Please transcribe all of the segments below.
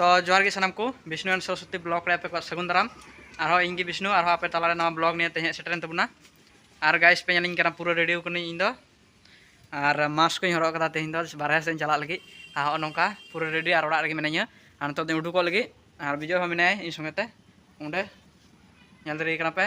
ᱛᱚ ᱡᱚᱦᱟᱨ ᱜᱮ ᱥᱟᱱᱟᱢ ᱠᱚ ᱵᱤᱥᱱᱩ ᱮᱱ ᱥᱚᱨᱚᱥᱚᱛᱤ ᱵᱞᱚᱜ ᱨᱮ ᱟᱯᱮ ᱠᱚᱣᱟᱜ ᱥᱟᱹᱜᱩᱱ ᱫᱟᱨᱟᱢ ᱟᱨᱦᱚᱸ ᱤᱧ ᱜᱮ ᱵᱤᱥᱱᱩ ᱟᱨᱦᱚᱸ ᱟᱯᱮ ᱛᱟᱞᱟᱨᱮ ᱱᱚᱣᱟ ᱵᱞᱚᱜ ᱱᱤᱭᱮ ᱛᱮᱦᱮᱧ ᱥᱮᱴᱮᱨᱮᱱ ᱛᱟᱵᱚᱱᱟ ᱟᱨ ᱜᱟᱭᱤᱥ ᱯᱮ ᱧᱮᱞᱤᱧ ᱠᱟᱱᱟ ᱯᱩᱨᱟᱹ ᱨᱮᱰᱤ ᱠᱟᱹᱱᱟᱹᱧ ᱤᱧ ᱫᱚ ᱟᱨ ᱢᱟᱥᱠ ᱠᱚᱧ ᱦᱚᱨᱚᱜ ᱠᱟᱫᱟ ᱛᱮᱦᱮᱧ ᱫᱚ ᱵᱟᱨᱦᱮ ᱥᱮᱫ ᱪᱟᱞᱟᱜ ᱞᱟᱹᱜᱤᱫ ᱟᱨ ᱦᱚᱸ ᱱᱚᱝᱠᱟ ᱯᱩᱨᱟᱹ ᱨᱮᱰᱤ ᱟᱨ ᱚᱲᱟᱜ ᱨᱮᱜᱮ ᱢᱤᱱᱟᱹᱧᱟ ᱟᱨ ᱱᱤᱛᱚᱜ ᱫᱚᱧ ᱩᱰᱩᱠᱚᱜ ᱞᱟᱹᱜᱤᱫ ᱟᱨ ᱵᱤᱡᱚᱭ ᱦᱚᱸ ᱢᱮᱱᱟᱭᱟ ᱤᱧ ᱥᱚᱸᱜᱮ ᱛᱮ ᱚᱸᱰᱮ ᱧᱮᱞ ᱫᱟᱲᱮᱭᱟᱭ ᱠᱟᱱᱟ ᱯᱮ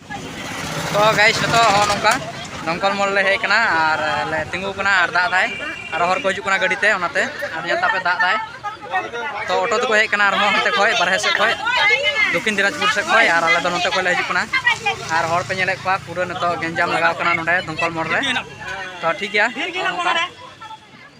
ᱛᱚ ᱜᱟᱭᱤᱥ ᱡᱚᱛᱚ ᱦᱚᱸ ᱱᱚᱝᱠᱟ ᱫᱚᱢᱠᱚᱞ ᱢᱚᱞ ᱞᱮ ᱦᱮᱡ ᱠᱟᱱᱟ ᱟᱨ ᱞᱮ ᱛᱤᱸᱜᱩ ᱠᱟᱱᱟ ᱟᱨ ᱫᱟᱜ ᱫᱟᱭ ᱟᱨ ᱦᱚᱲ ᱠᱚ ᱦᱤᱡᱩᱜ ᱠᱟᱱᱟ ᱜᱟᱹᱰᱤ ᱛᱮ ᱚᱱᱟᱛᱮ ᱟᱨ ᱧᱮᱞ ᱛᱟᱯᱮ ᱫᱟᱜ ᱫᱟᱭ ᱛᱚ ᱚᱴᱳ ᱛᱮᱠᱚ ᱦᱮᱡ ᱠᱟᱱᱟ ᱟᱨᱦᱚᱸ ᱦᱟᱱᱛᱮ ᱠᱷᱚᱡ ᱵᱟᱨᱦᱮ ᱥᱮᱫ ᱠᱷᱚᱡ ᱫᱚᱠᱷᱤᱱ ᱫᱤᱱᱟᱡᱽᱯᱩᱨ ᱥᱮᱫ ᱠᱷᱚᱡ ᱟᱨ ᱟᱞᱮ ᱫᱚ ᱱᱚᱛᱮ ᱠᱷᱚᱡ ᱞᱮ ᱦᱤᱡᱩᱜ ᱠᱟᱱᱟ ᱟᱨ ᱦᱚᱲ ᱯᱮ ᱧᱮᱞᱮᱫ ᱠᱚᱣᱟ ᱯᱩᱨᱟᱹ ᱱᱤᱛᱚᱜ ᱜᱮᱧᱡᱟᱢ ᱞᱟᱜᱟᱣ ᱠᱟᱱᱟ ᱱᱚᱰᱮ ᱫᱚᱢᱠᱚᱞ ᱢᱚᱞ ᱨᱮ ᱛᱚ ᱴᱷᱤᱠ ᱜᱮᱭᱟ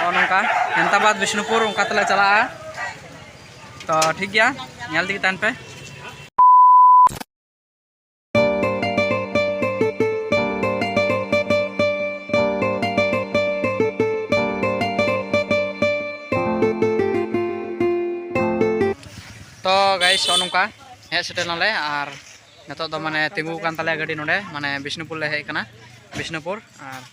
ᱱᱚᱜᱼᱚ ᱱᱚᱝᱠᱟ ᱦᱮᱢᱛᱟᱵᱟᱫᱽ ᱵᱤᱥᱱᱩᱯᱩᱨ ᱚᱱᱠᱟ ᱛᱮᱞᱮ ᱪᱟᱞᱟᱜᱼᱟ ᱛᱚ ᱴᱷᱤᱠ ᱜᱮᱭᱟ ᱧᱮᱞ ᱛᱮᱜᱮ ᱛᱟᱦᱮᱱ ᱯᱮ ᱛᱚ ᱜᱟᱭᱤᱥ ᱱᱚᱜᱼᱚ ᱱᱚᱝᱠᱟ ᱦᱮᱡ ᱥᱮᱴᱮᱨ ᱱᱟᱞᱮ ᱟᱨ ᱱᱤᱛᱚᱜ ᱫᱚ ᱢᱟᱱᱮ ᱛᱤᱸᱜᱩ ᱟᱠᱟᱱ ᱛᱟᱞᱮᱭᱟ ᱜᱟᱹᱰᱤ ᱱᱚᱰᱮ ᱢᱟᱱᱮ ᱵᱤᱥᱱᱩᱯᱩᱨ ᱞᱮ ᱦᱮᱡ ᱟᱠᱟᱱᱟ ᱵᱤᱥᱱᱩᱯᱩᱨ ᱟᱨ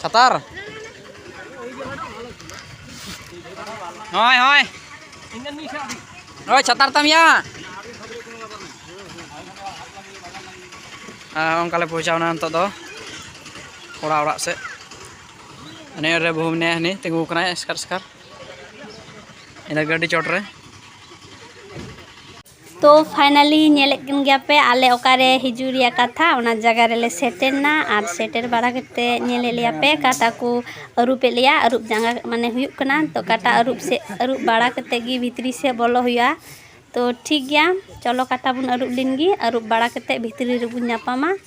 ᱪᱷᱟᱛᱟᱨ ᱦᱳᱭ ᱦᱳᱭ ᱦᱳᱭ ᱪᱷᱟᱛᱟᱨ ᱛᱟᱢ ᱭᱟ ᱚᱱᱠᱟ ᱞᱮ ᱯᱳᱪᱷᱟᱣᱱᱟ ᱱᱤᱛᱚᱜ ᱫᱚ ᱠᱚᱲᱟ ᱚᱲᱟᱜ ᱥᱮᱫ ᱱᱤᱭᱟᱹ ᱨᱮ ᱵᱟᱹᱦᱩ ᱢᱮᱱᱟᱭᱟ ᱦᱟᱹᱱᱤ ᱛᱤᱸᱜᱩ ᱠᱟᱱᱟᱭ ᱮᱥᱠᱟᱨ ᱮᱥᱠᱟᱨ ᱤᱱᱟᱹ ᱜᱟᱹᱰᱤ ᱪᱚᱴ ᱨᱮ ᱛᱚ ᱯᱷᱟᱭᱱᱟᱞᱤ ᱧᱮᱞᱮᱫ ᱠᱟᱱ ᱜᱮᱭᱟ ᱯᱮ ᱟᱞᱮ ᱚᱠᱟᱨᱮ ᱦᱤᱡᱩᱜ ᱨᱮᱭᱟᱜ ᱠᱟᱛᱷᱟ ᱚᱱᱟ ᱡᱟᱭᱜᱟ ᱨᱮᱞᱮ ᱥᱮᱴᱮᱨ ᱮᱱᱟ ᱟᱨ ᱥᱮᱴᱮᱨ ᱵᱟᱲᱟ ᱠᱟᱛᱮ ᱧᱮᱞᱮᱫ ᱞᱮᱭᱟ ᱯᱮ ᱠᱟᱴᱟ ᱠᱚ ᱟᱹᱨᱩᱵᱮᱫ ᱞᱮᱭᱟ ᱟᱹᱨᱩᱵ ᱡᱟᱸᱜᱟ ᱢᱟᱱᱮ ᱦᱩᱭᱩᱜ ᱠᱟᱱᱟ ᱛᱚ ᱠᱟᱴᱟ ᱟᱹᱨᱩᱵ ᱥᱮᱫ ᱟᱹᱨᱩᱵ ᱵᱟᱲᱟ ᱠᱟᱛᱮ ᱜᱮ ᱵᱷᱤᱛᱨᱤ ᱥᱮᱫ ᱵᱚᱞᱚᱜ ᱦᱩᱭᱩᱜᱼᱟ ᱛᱚ ᱴᱷᱤᱠ ᱜᱮᱭᱟ ᱪᱚᱞᱚ ᱠᱟᱴᱟ ᱵᱚᱱ ᱟᱹᱨᱩᱵ ᱞᱮᱱᱜᱮ ᱟᱹᱨᱩᱵ ᱵᱟᱲᱟ ᱠᱟᱛᱮ ᱵᱷᱤᱛᱨᱤ ᱨᱮᱵᱚᱱ ᱧᱟᱯᱟᱢᱟ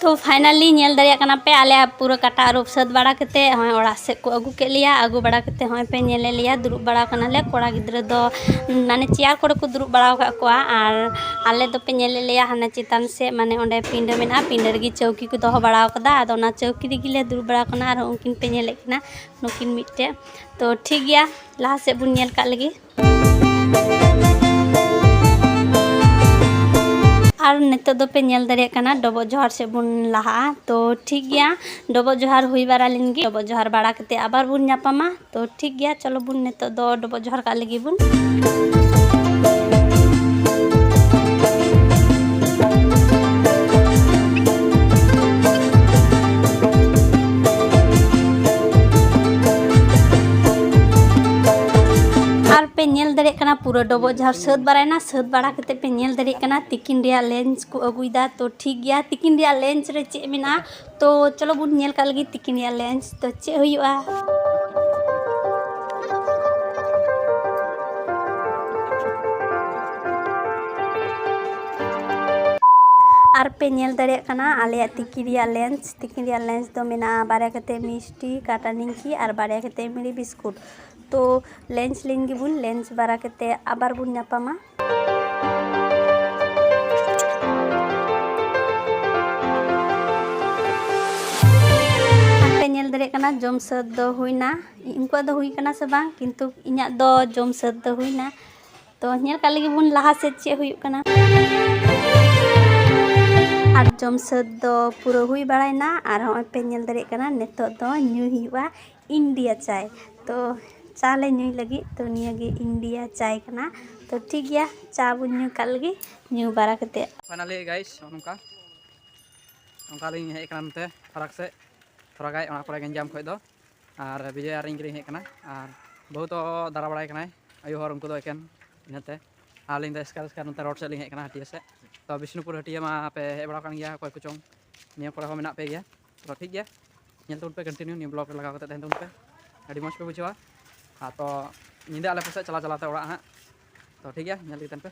ᱛᱚ ᱯᱷᱟᱭᱱᱟᱞᱤ ᱧᱮᱞ ᱫᱟᱲᱮᱭᱟᱜ ᱠᱟᱱᱟ ᱯᱮ ᱟᱞᱮ ᱯᱩᱨᱟᱹ ᱠᱟᱴᱟ ᱟᱹᱨᱩᱵ ᱥᱟᱹᱛ ᱵᱟᱲᱟ ᱠᱟᱛᱮ ᱦᱚᱸᱜᱼᱚᱭ ᱚᱲᱟᱜ ᱥᱮᱫ ᱠᱚ ᱟᱹᱜᱩ ᱠᱮᱫ ᱞᱮᱭᱟ ᱟᱹᱜᱩ ᱵᱟᱲᱟ ᱠᱟᱛᱮ ᱦᱚᱸᱜᱼᱚᱭ ᱯᱮ ᱧᱮᱞᱮᱫ ᱞᱮᱭᱟ ᱫᱩᱲᱩᱵ ᱵᱟᱲᱟ ᱠᱟᱱᱟᱞᱮ ᱠᱚᱲᱟ ᱜᱤᱫᱽᱨᱟᱹ ᱫᱚ ᱢᱟᱱᱮ ᱪᱮᱭᱟᱨ ᱠᱚᱨᱮ ᱠᱚ ᱫᱩᱲᱩᱵ ᱵᱟᱲᱟ ᱟᱠᱟᱫ ᱠᱚᱣᱟ ᱟᱨ ᱟᱞᱮ ᱫᱚᱯᱮ ᱧᱮᱞᱮᱫ ᱞᱮᱭᱟ ᱦᱟᱱᱮ ᱪᱮᱛᱟᱱ ᱥᱮᱫ ᱢᱟᱱᱮ ᱚᱸᱰᱮ ᱯᱤᱸᱰᱟᱹ ᱢᱮᱱᱟᱜᱼᱟ ᱯᱤᱸᱰᱟᱹ ᱨᱮᱜᱮ ᱪᱟᱹᱣᱠᱤ ᱠᱚ ᱫᱚᱦᱚ ᱵᱟᱲᱟ ᱟᱠᱟᱫᱟ ᱟᱫᱚ ᱚᱱᱟ ᱪᱟᱹᱣᱠᱤ ᱨᱮᱜᱮ ᱞᱮ ᱫᱩᱲᱩᱵ ᱵᱟᱲᱟ ᱠᱟᱱᱟ ᱟᱨ ᱩᱱᱠᱤᱱ ᱯᱮ ᱧᱮᱞᱮᱫ ᱠᱤᱱᱟ ᱱᱩᱠᱤᱱ ᱢᱤᱫᱴᱮᱡ ᱛᱚ ᱴᱷᱤᱠ ᱜᱮᱭᱟ ᱞᱟᱦᱟ ᱥᱮᱫ ᱵᱚᱱ ᱧᱮᱞ ᱠᱟᱜ ᱞᱮᱜᱮ ᱟᱨ ᱱᱤᱛᱚᱜ ᱫᱚᱯᱮ ᱧᱮᱞ ᱫᱟᱲᱮᱭᱟᱜ ᱠᱟᱱᱟ ᱰᱚᱵᱚᱜ ᱡᱚᱦᱟᱨ ᱥᱮᱫ ᱵᱚᱱ ᱞᱟᱦᱟᱜᱼᱟ ᱛᱚ ᱴᱷᱤᱠ ᱜᱮᱭᱟ ᱰᱚᱵᱚᱜ ᱡᱚᱦᱟᱨ ᱦᱩᱭ ᱵᱟᱲᱟ ᱞᱮᱱ ᱜᱮ ᱰᱚᱵᱚᱜ ᱡᱚᱦᱟᱨ ᱵᱟᱲᱟ ᱠᱟᱛᱮ ᱟᱵᱟᱨ ᱵᱚᱱ ᱧᱟᱯᱟᱢᱟ ᱛᱚ ᱴᱷᱤᱠ ᱜᱮᱭᱟ ᱪᱚᱞᱚ ᱵᱚᱱ ᱱᱤᱛᱚᱜ ᱫᱚ ᱰᱚᱵᱚᱜ ᱡᱚᱦᱟᱨ ᱠᱟᱜ ᱞᱟᱹᱜᱤᱫ ᱵᱚᱱ ᱟᱨ ᱯᱮ ᱧᱮᱞ ᱫᱟᱲᱮᱭᱟᱜ ᱠᱟᱱᱟ ᱯᱩᱨᱟᱹ ᱰᱚᱵᱚᱜ ᱡᱟᱦᱟᱸ ᱥᱟᱹᱛ ᱵᱟᱲᱟᱭᱮᱱᱟ ᱥᱟᱹᱛ ᱵᱟᱲᱟ ᱠᱟᱛᱮ ᱯᱮ ᱧᱮᱞ ᱫᱟᱲᱮᱭᱟᱜ ᱠᱟᱱᱟ ᱛᱤᱠᱤᱱ ᱨᱮᱭᱟᱜ ᱞᱮᱱᱥ ᱠᱚ ᱟᱹᱜᱩᱭᱮᱫᱟ ᱛᱚ ᱴᱷᱤᱠ ᱜᱮᱭᱟ ᱛᱤᱠᱤᱱ ᱨᱮᱭᱟᱜ ᱞᱮᱱᱥ ᱨᱮ ᱪᱮᱫ ᱢᱮᱱᱟᱜᱼᱟ ᱛᱚ ᱪᱚᱞᱚ ᱵᱚᱱ ᱧᱮᱞ ᱠᱟᱜ ᱞᱟᱹᱜᱤᱫ ᱛᱤᱠᱤᱱ ᱨᱮᱭᱟᱜ ᱞᱮᱱᱥ ᱛᱚ ᱪᱮᱫ ᱦᱩᱭᱩᱜᱼᱟ ᱟᱨ ᱯᱮ ᱧᱮᱞ ᱫᱟᱲᱮᱭᱟᱜ ᱠᱟᱱᱟ ᱟᱞᱮᱭᱟᱜ ᱛᱤᱠᱤ ᱨᱮᱭᱟᱜ ᱞᱮᱱᱥ ᱛᱤᱠᱤ ᱨᱮᱭᱟᱜ ᱞᱮᱱᱥ ᱫᱚ ᱢᱮᱱᱟᱜᱼᱟ ᱵᱟᱨᱭᱟ ᱠᱟᱛᱮ ᱢᱤᱥᱴᱤ ᱠᱟᱴᱟ ᱱᱤᱢᱠᱤ ᱟᱨ ᱵᱟᱨᱭᱟ ᱠᱟᱛᱮ ᱢᱤᱨᱤ ᱵᱤᱥᱠᱩᱴ ᱛᱚ ᱞᱮᱱᱪ ᱞᱮᱱ ᱜᱮᱵᱚᱱ ᱞᱮᱱᱪ ᱵᱟᱲᱟ ᱠᱟᱛᱮ ᱟᱵᱟᱨ ᱵᱚᱱ ᱧᱟᱯᱟᱢᱟ ᱧᱮᱞ ᱫᱟᱲᱮᱭᱟᱜ ᱠᱟᱱᱟ ᱡᱚᱢ ᱥᱟᱹᱛ ᱫᱚ ᱦᱩᱭᱱᱟ ᱩᱱᱠᱩᱣᱟᱜ ᱫᱚ ᱦᱩᱭ ᱠᱟᱱᱟ ᱥᱮ ᱵᱟᱝ ᱠᱤᱱᱛᱩ ᱤᱧᱟᱹᱜ ᱫᱚ ᱡᱚᱢ ᱥᱟᱹᱛ ᱫᱚ ᱦᱩᱭᱱᱟ ᱛᱚ ᱧᱮᱞ ᱠᱟᱜ ᱞᱟᱹᱜᱤᱫ ᱵᱚᱱ ᱞᱟᱦᱟ ᱥᱮᱫ ᱪᱮᱫ ᱦᱩᱭᱩᱜ ᱠᱟᱱᱟ ᱟᱨ ᱡᱚᱢ ᱥᱟᱹᱛ ᱫᱚ ᱯᱩᱨᱟᱹ ᱦᱩᱭ ᱵᱟᱲᱟᱭᱱᱟ ᱟᱨ ᱦᱚᱸᱜᱼᱚᱭ ᱯᱮ ᱧᱮᱞ ᱫᱟᱲᱮᱭᱟᱜ ᱠᱟᱱᱟ ᱱᱤᱛᱚᱜ ᱫᱚ ᱧᱩᱭ ᱦᱩᱭᱩᱜᱼᱟ ᱤᱱᱰᱤᱭᱟ ᱪᱟᱭ ᱛᱚ ᱪᱟ ᱞᱮ ᱧᱩᱭ ᱞᱟᱹᱜᱤᱫ ᱛᱚ ᱱᱤᱭᱟᱹ ᱜᱮ ᱤᱱᱰᱤᱭᱟ ᱪᱟᱭ ᱠᱟᱱᱟ ᱛᱚ ᱴᱷᱤᱠ ᱜᱮᱭᱟ ᱪᱟ ᱵᱚᱱ ᱧᱩ ᱠᱟᱜ ᱞᱮᱜᱮ ᱧᱩ ᱵᱟᱲᱟ ᱠᱟᱛᱮ ᱯᱷᱟᱭᱱᱟᱞᱤ ᱜᱟᱭᱤᱥ ᱱᱚᱝᱠᱟ ᱱᱚᱝᱠᱟ ᱞᱤᱧ ᱦᱮᱡ ᱠᱟᱱᱟ ᱱᱚᱛᱮ ᱯᱷᱟᱨᱟᱠ ᱥᱮᱫ ᱛᱷᱚᱲᱟ ᱜᱟᱱ ᱚᱱᱟ ᱠᱚᱨᱮ ᱜᱮᱧᱡᱟᱢ ᱠᱷᱚᱡ ᱫᱚ ᱟᱨ ᱵᱤᱡᱚᱭ ᱟᱨ ᱤᱧ ᱜᱮᱞᱤᱧ ᱦᱮᱡ ᱠᱟᱱᱟ ᱟᱨ ᱵᱟᱹᱦᱩ ᱫᱚ ᱫᱟᱬᱟ ᱵᱟᱲᱟᱭ ᱠᱟᱱᱟᱭ ᱟᱭᱳ ᱦᱚᱲ ᱩᱱᱠᱩ ᱫᱚ ᱮᱠᱮᱱ ᱤᱱᱟᱹᱛᱮ ᱟᱨ ᱟᱹᱞᱤᱧ ᱫᱚ ᱮᱥᱠᱟᱨ ᱮᱥᱠᱟᱨ ᱱᱚᱛᱮ ᱨᱳᱰ ᱥᱮᱫ ᱞᱤᱧ ᱦᱮᱡ ᱠᱟᱱᱟ ᱦᱟᱹᱴᱤᱭᱟᱹ ᱥᱮᱫ ᱛᱚ ᱵᱤᱥᱱᱩᱯᱩᱨ ᱦᱟᱹᱴᱤᱭᱟᱹ ᱢᱟ ᱯᱮ ᱦᱮᱡ ᱵᱟᱲᱟ ᱠᱟᱱ ᱜᱮᱭᱟ ᱚᱠᱚᱭ ᱠᱚᱪᱚᱝ ᱱᱤᱭᱟᱹ ᱠᱚᱨᱮ ᱦᱚᱸ ᱢᱮᱱᱟᱜ ᱯᱮ ᱜᱮᱭᱟ ᱛᱚ ᱴᱷᱤᱠ ᱜᱮᱭᱟ ᱧᱮᱞ ᱛᱟᱵᱚᱱ ᱯᱮ ᱠᱚᱱᱴᱤᱱᱤᱭᱩ ᱱᱤᱭᱟᱹ ᱵᱞᱚᱜ ᱨᱮ ᱞᱟᱜᱟᱣ ᱠᱟᱛᱮ ᱛᱟᱦᱮᱱ ᱛᱟᱵᱚᱱ ᱯᱮ ᱟᱹᱰᱤ ᱢᱚᱡᱽ ᱯᱮ ᱵᱩᱡᱷᱟᱹᱣᱟ ᱟᱨ ᱛᱚ ᱧᱤᱫᱟᱹ ᱟᱞᱮ ᱯᱟᱥᱮᱡ ᱪᱟᱞᱟᱣ ᱪᱟᱞᱟᱣ ᱛᱮ ᱚᱲᱟᱜ ᱦᱟᱸᱜ ᱛᱚ ᱴᱷᱤᱠ ᱜᱮᱭᱟ ᱧᱮᱞ ᱤᱫᱤ ᱛᱟᱦᱮᱱ ᱯᱮ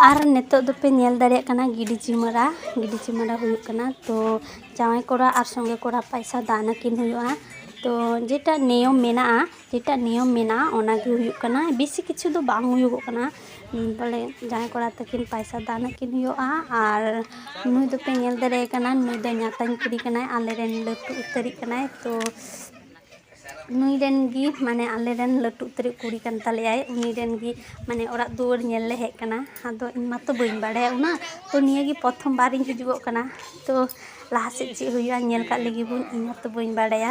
ᱟᱨ ᱱᱤᱛᱚᱜ ᱫᱚᱯᱮ ᱧᱮᱞ ᱫᱟᱲᱮᱭᱟᱜ ᱠᱟᱱᱟ ᱜᱤᱰᱤ ᱪᱤᱢᱟᱹᱲᱟ ᱜᱤᱰᱤ ᱪᱤᱢᱟᱹᱲᱟ ᱦᱩᱭᱩᱜ ᱠᱟᱱᱟ ᱛᱚ ᱡᱟᱶᱟᱭ ᱠᱚᱲᱟ ᱟᱨ ᱥᱚᱸᱜᱮ ᱠᱚᱲᱟ ᱯᱚᱭᱥᱟ ᱫᱟᱱ ᱟᱹᱠᱤᱱ ᱦᱩᱭᱩᱜᱼᱟ ᱛᱚ ᱡᱮᱴᱟ ᱱᱤᱭᱚᱢ ᱢᱮᱱᱟᱜᱼᱟ ᱡᱮᱴᱟ ᱱᱤᱭᱚᱢ ᱢᱮᱱᱟᱜᱼᱟ ᱚᱱᱟ ᱜᱮ ᱦᱩᱭᱩᱜ ᱠᱟᱱᱟ ᱵᱮᱥᱤ ᱠᱤᱪᱷᱩ ᱫᱚ ᱵᱟᱝ ᱦᱩᱭᱩᱜᱚᱜ ᱠᱟᱱᱟ ᱵᱚᱞᱮ ᱡᱟᱶᱟᱭ ᱠᱚᱲᱟ ᱛᱟᱹᱠᱤᱱ ᱯᱟᱭᱥᱟ ᱫᱟᱱ ᱟᱹᱠᱤᱱ ᱦᱩᱭᱩᱜᱼᱟ ᱟᱨ ᱱᱩᱭ ᱫᱚᱯᱮ ᱧᱮᱞ ᱫᱟᱲᱮᱭᱟᱭ ᱠᱟᱱᱟ ᱱᱩᱭ ᱫᱚ ᱧᱟᱛᱟᱧ ᱠᱩᱲᱤ ᱠᱟᱱᱟᱭ ᱟᱞᱮ ᱨᱮᱱ ᱞᱟᱹᱴᱩ ᱩᱛᱟᱹᱨᱤᱡ ᱠᱟᱱᱟᱭ ᱛᱚ ᱱᱩᱭ ᱨᱮᱱ ᱜᱮ ᱢᱟᱱᱮ ᱟᱞᱮ ᱨᱮᱱ ᱞᱟᱹᱴᱩ ᱩᱛᱟᱹᱨᱤᱡ ᱠᱩᱲᱤ ᱠᱟᱱ ᱛᱟᱞᱮᱭᱟᱭ ᱩᱱᱤ ᱨᱮᱱ ᱜᱮ ᱢᱟᱱᱮ ᱚᱲᱟᱜ ᱫᱩᱣᱟᱹᱨ ᱧᱮᱞ ᱞᱮ ᱦᱮᱡ ᱠᱟᱱᱟ ᱟᱫᱚ ᱤᱧ ᱢᱟᱛᱚ ᱵᱟᱹᱧ ᱵᱟᱲᱟᱭᱟ ᱩᱱᱟᱹᱜ ᱛᱚ ᱱᱤᱭᱟᱹ ᱜᱮ ᱯᱨᱚᱛᱷᱚᱢ ᱵᱟᱨ ᱤᱧ ᱦᱤᱡᱩᱜᱚᱜ ᱠᱟᱱᱟ ᱛᱚ ᱞᱟᱦᱟ ᱥᱮᱫ ᱪᱮᱫ ᱦᱩᱭᱩᱜᱼᱟ ᱧᱮᱞ ᱠᱟᱜ ᱞᱮᱜᱮ ᱵᱚᱱ ᱤᱧ ᱢᱟᱛᱚ ᱵᱟᱹᱧ ᱵᱟᱲᱟᱭᱟ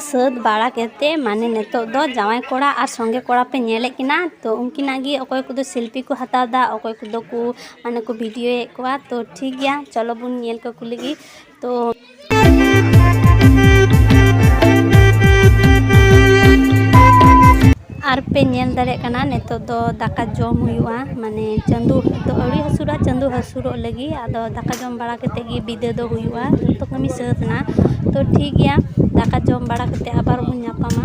ᱥᱟᱹᱛ ᱵᱟᱲᱟ ᱠᱟᱛᱮ ᱢᱟᱱᱮ ᱱᱤᱛᱚᱜ ᱫᱚ ᱡᱟᱶᱟᱭ ᱠᱚᱲᱟ ᱟᱨ ᱥᱚᱸᱜᱮ ᱠᱚᱲᱟ ᱯᱮ ᱧᱮᱞᱮᱫ ᱠᱤᱱᱟ ᱛᱚ ᱩᱱᱠᱤᱱᱟᱜ ᱜᱮ ᱚᱠᱚᱭ ᱠᱚᱫᱚ ᱥᱮᱞᱯᱷᱤ ᱠᱚ ᱦᱟᱛᱟᱣᱫᱟ ᱚᱠᱚᱭ ᱠᱚᱫᱚ ᱠᱚ ᱢᱟᱱᱮ ᱠᱚ ᱵᱷᱤᱰᱤᱭᱳᱭᱮᱫ ᱠᱚᱣᱟ ᱛᱚ ᱴᱷᱤᱠ ᱜᱮᱭᱟ ᱪᱚᱞᱚ ᱵᱚᱱ ᱧᱮᱞ ᱠᱟᱠᱚ ᱞᱮᱜᱮ ᱛᱚ ᱟᱨ ᱯᱮ ᱧᱮᱞ ᱫᱟᱲᱮᱭᱟᱜ ᱠᱟᱱᱟ ᱱᱤᱛᱚᱜ ᱫᱚ ᱫᱟᱠᱟ ᱡᱚᱢ ᱦᱩᱭᱩᱜᱼᱟ ᱢᱟᱱᱮ ᱪᱟᱸᱫᱚ ᱫᱚ ᱟᱹᱣᱨᱤ ᱦᱟᱹᱥᱩᱨᱚᱜᱼᱟ ᱪᱟᱸᱫᱚ ᱦᱟᱹᱥᱩᱨᱚᱜ ᱞᱟᱹᱜᱤᱫ ᱟᱫᱚ ᱫᱟᱠᱟ ᱡᱚᱢ ᱵᱟᱲᱟ ᱠᱟᱛᱮᱫ ᱜᱮ ᱵᱤᱫᱟᱹ ᱫᱚ ᱦᱩᱭᱩᱜᱼᱟ ᱡᱚᱛᱚ ᱠᱟᱹᱢᱤ ᱥᱟᱹᱛ ᱮᱱᱟ ᱛᱚ ᱴᱷᱤᱠ ᱜᱮᱭᱟ ᱫᱟᱠᱟ ᱡᱚᱢ ᱵᱟᱲᱟ ᱠᱟᱛᱮᱫ ᱟᱵᱟᱨ ᱵᱚᱱ ᱧᱟᱯᱟᱢᱟ